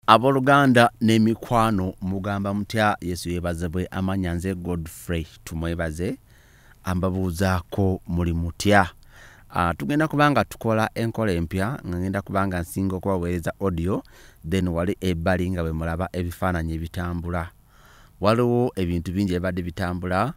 Aboluganda n'emikwano mugamba mutya Yesu yebazebwe amanya nze Godfrey tumwebaze ambabuuzaako muli mutya uh, tugenda kubanga tukola enkola empya nga ngenda kubanga nsinga okubaweereza audio then wali ebbali nga bwe mulaba ebifaananyi ebitambula waliwo ebintu bingi ebibadde bitambula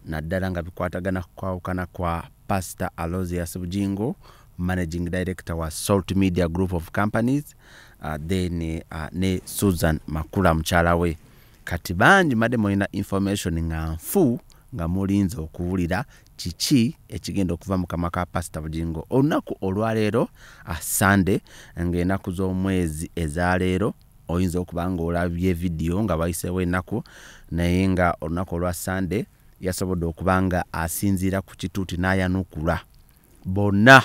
naddala nga bikwatagana kukwawukana kwa pastor alosius bujingo managing director wa salt media group of companies uh, then uh, ne susan makula mukyala we kati bangi madde mulina information nga nfu nga mulinze okuwulira kiki ekigenda okuva mu kamwa ka pasita bugingo olunaku olwaleero uh, sunday ng'enaku z'omwezi ezaleero oyinza okuba nga olabye vidiyo nga bayiseewo enaku naye nga olunaku olwa sunday yasobodde okuba nga asinziira ku kituuti n'ayanukula bonna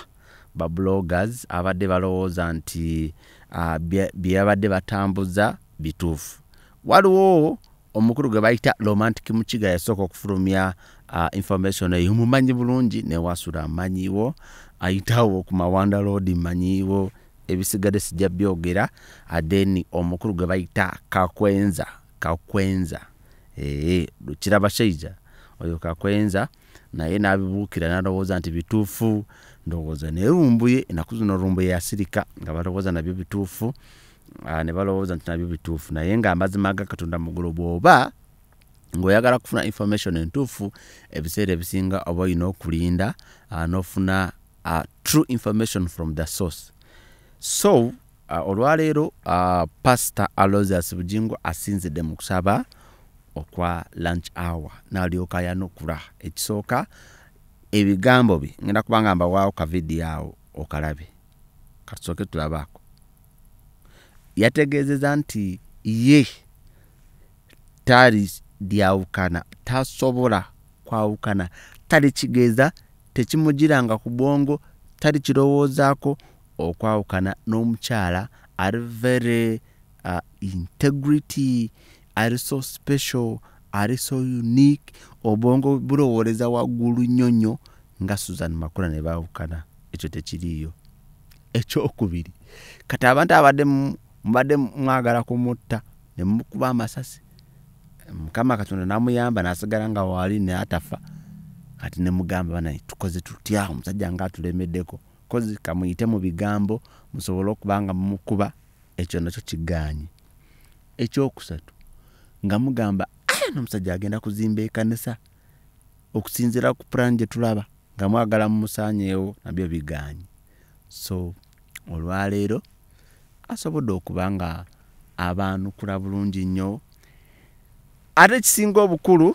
ba bloggers abadde balowooza nti uh, byebabadde batambuza bituufu waliwo omukulu gwe bayita romantic mukiga yasooka okufulumya uh, information eyo mumanyi bulungi newasula amanyiwo ayitawo ku mawanda loodi manyiwo ebisigadde sijja byogera then omukulu gwe bayita kakwenza kakwenza ee eh, kiraba shaija oyo kakwenza naye nabibuukira nalowooza nti bituufu ndowooza naye lumbuye enaku zino lumbuye yasirika nga balowooza nabyo bituufu ah, ne balowooza nti nabyo bituufu naye nga amazima ga katonda mugulu bwoba ngaoyagala kufuna information entuufu ebiseera ebisinga oba olina okulinda ah, nofuna ah, true information from the source so Ah, olwaleero ah, pasita alosius bujingo asinzidde mu kusaba okwa lunch hour nalyoka yanukula ekisooka ebigambo bye ngenda kubanga mbawaawo kavidiyo awo okalabe katusooke tulabaako yategeezeza nti ye tali lyawukana tasobola kwawukana tali kigeza tekimugiranga ku bwongo tali kirowoozaako okwawukana n'omukyala ari very uh, integrity ari so special ari so unique obwongo bulowooleza waggulu nnyo nnyo nga susan makula ne baawukana ekyo tekiriiyo ekyokubiri kati abantu abadde mubadde mwagala kumutta ne mukuba amasasi mukama katonda namuyamba nasigala nga waali naye atafa kati nemugamba banaye tukoze tutya omusajja nga atulemeddeko kozi kamuyite mu bigambo musobole okuba nga mumukuba ekyo nakyo kigaanyi ekyokusatu nga mugamba aya nomusajja agenda kuzimba ekanisa okusinzira ku purani gye tulaba nga mwagala mumusanyeewo nabyo bigaanyi so olwaleero asobodde okuba nga abaanukula bulungi nnyo ate ekisinga obukulu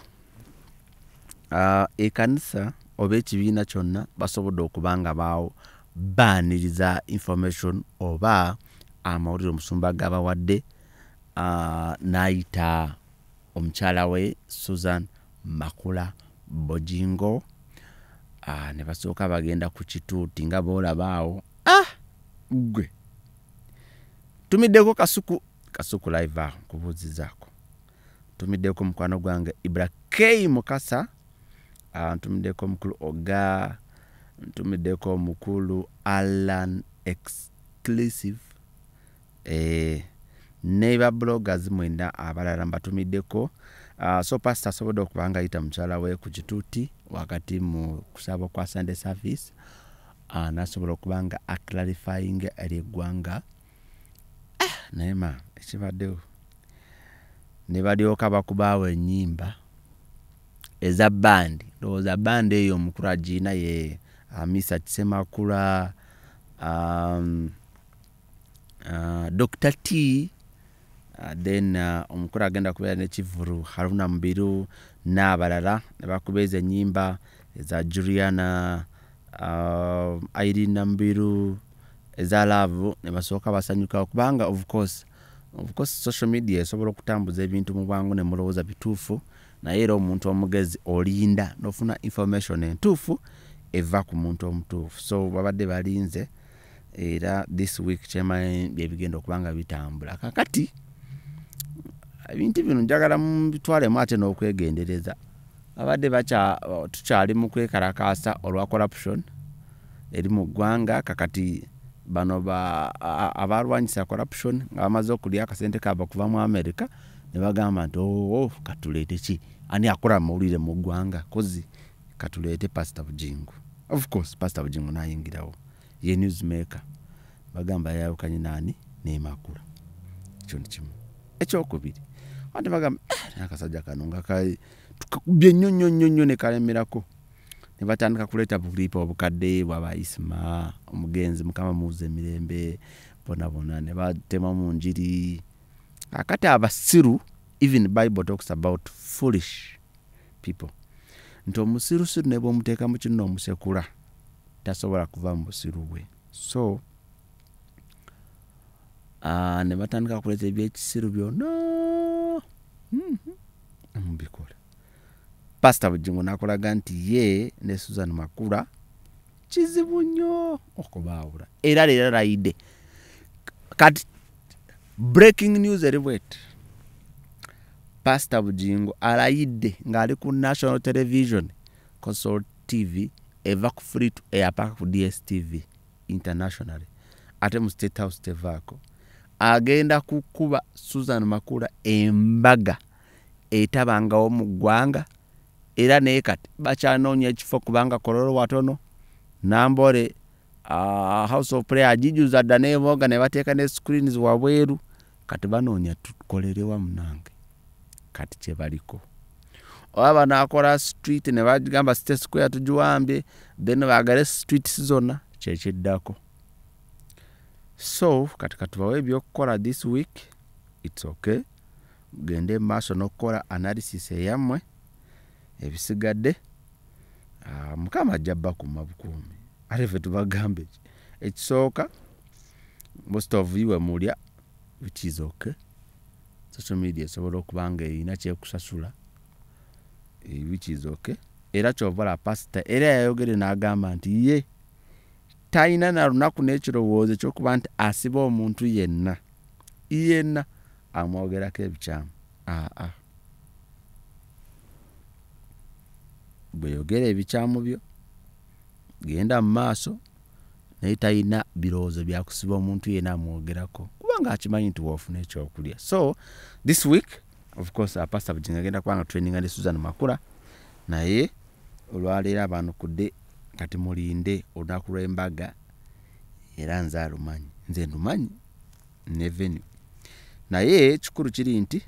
ekanisa oba ekibiina kyonna basobodde okuba nga baawo baaniriza information oba amawulire omusumba gabawadde n'ayita omukyala we susan makula bojingo ne basooka bagenda ku kituuti nga boolaba awo ah gwe tumiddeko kasuku kasuku live aho nkubuuzizaako ntumiddeko mukwano gwange ibra k mukasa ah, ntumiddeko omukulu oga ntumiddeko omukulu alan exclusive eh, ne babloggers mwena abalala mbatumiddeko ah, so pasita asobodde okuba nga ayita mukyala we ku kituuti wakati mu kusaba kwa sunday service ah, nasobola okuba nga aclarifying eri eggwanga uh, ah, naye ma ekibaddewo ne balyoka bakubaawo ennyimba eza bandi ndowooza bandi eyo omukulu agiina ye amisa kisemakula um, uh, dr t uh, then uh, omukulu agenda kubeera nekivulu haruna mubiru n'abalala ne bakuba ezo ennyimba eza juliana uh, irene nambiru eza laavu ne basooka basanyuka kubanga of course of course social media esobola okutambuza ebintu mu bwangu ne mulowooza bituufu naye era omuntu omugezi olinda n'ofuna information entuufu eva ku muntu omutuufu so babadde balinze era this week kyemanyi byebigenda okuba nga bitambula kakati ebintu bino njagala mubitwalemu ate n'okwegendereza abadde tukyali mu kwekalakaasa olwa corruption eri mu ggwanga kakati bano abalwanyisa corruption nga bamaze okulya akasente kaba okuva mu america ne bagamba nti oo oh, oh, katuleete ki ani akola mawulire mu ggwanga kozi katuleete pasita bujingo of course pasita bujingo nayingirawo ye newsmaker bagamba yayawukanye naani nemakula ekyo nikimu ekyokubiri ate bagamba eh, akasajja kano nga tukakubye nnyo nnyo nnyo nnyo nekalemerako ne batandika kuleeta bulipa obukadde bwaba isima omugenzi mukama muwuza emirembe bonabona ne batemamu njiri akati abasiru even bible talks about foolish people nti omusirusiru ne bwomuteeka mu kinno omusekula tasobola kuva mu busiru bwe so uh, ne batandika kuleeta ebyekisiru byonna mm-hmm. mubikola pasita bujingo nakolaga nti ye ne susan makula kizibu nnyo okubaawula era leero layidde kati breaking news eriwet pastor bugingo alayidde ng'ali ku national television consol tv eva ku free to air paka ku dstv internationally ate mu state house tevaako agenda kukuba susan makula embaga etabangawo mu ggwanga era naye kati bakyanoonya ekifo kubanga kololo watono nambole uh, house of prayer ajijuza dda neboga nebateeka ne screens wabweru kati banoonya tukolerewa munange kati kyebaliko oba banakora street nebagamba state square tugiwambye then bagale streets zona kyekiddako so kati katubawo ebyokukola this week its okay gende maaso nokukola analysis eyammwe ebisigadde ah, mukama ajja bakuma bukuumi ate fe tubagambe ekisooka most of you wemulya which is okay social media esobola okuba nga erina kyekusasula eh, which is okay era kyovala pasita era yayogere n'agamba nti ye talina na lunaku n'ekirowoozo ekyokuba nti asiba omuntu yenna yenna amwogerako ebikyamu ah, ah. bweyogera ebikyamu byo genda mu maaso naye talina birowoozo byakusiba omuntu yena amwogerako kubanga akimanyi nti waofuna ekyokulya so this week of course apasta bujinga agenda kubanga traininga ne susan makula naye olwaleero abanukudde kati mulinde olunaku lw'embaga era nze alumanyi nze ndumanyi ne venue naye ekikulu kiri nti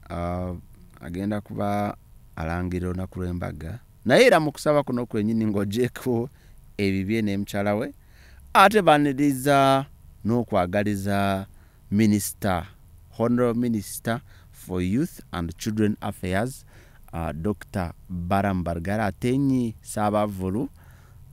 uh, agenda kuba alangira olunaku lw'embaga naye era mu kusaba kuno kwenyini ng'ogyeko ebibye n'emukyala we ate baniriza n'okwagaliza minisita honorable minister for youth and children affairs uh, dr baram bargara atenyi saabavulu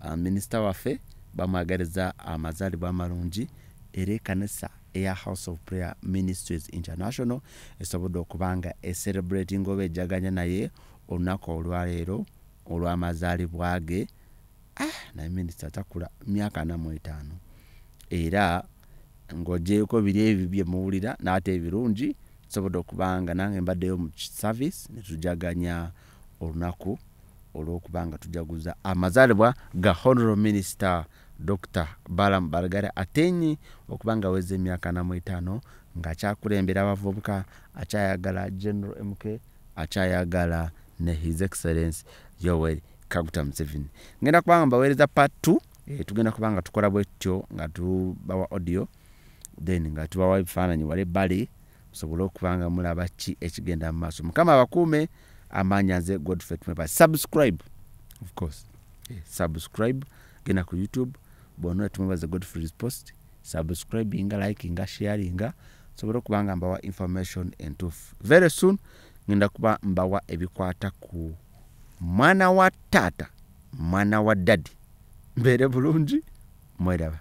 Ah, minisita waffe bamwagaliza amazaalibwa amalungi era ekanisa eya house of prayer ministries international esobodde okuba nga eserebrating oba ejaganya naye olunaku olwaleero olwamazaalibwa ge ah, naye minisita takula myaka anamu etaano era ng'ogyeko biri ebyo bye muwulira n'ate ebirungi nsobodde okuba nga nange mbaddeyo mu service ne tujaganya olunaku olwokuba nga tujaguza amazalibwa ga honoro minisita dr balam bargare atenyi okuba nga aweza emyaka namu etaano ngaakyakulembera abavubuka akyayagala general mk akyayagala ne his excellence yoweri kaguta museveni ngenda kubanga mbaweereza part t eh, tugenda kuba nga tukola bwettyo nga tubawa audio then nga tubawa ebifaananyi wala ebbali musobole okuba nga mulaba ki ekigenda mu maaso mukama abakuume amaanya nze godfrey tumeba subscribe of course eh, subscribe genda ku youtube bona tumwebaze godfrey's post subscribinga likinga sharinga sobole okuba nga mbawa information entuufu very soon ngenda kuba mbawa ebikwata ku mwana wa taata mwana wa dadi mbeere bulungi mweraba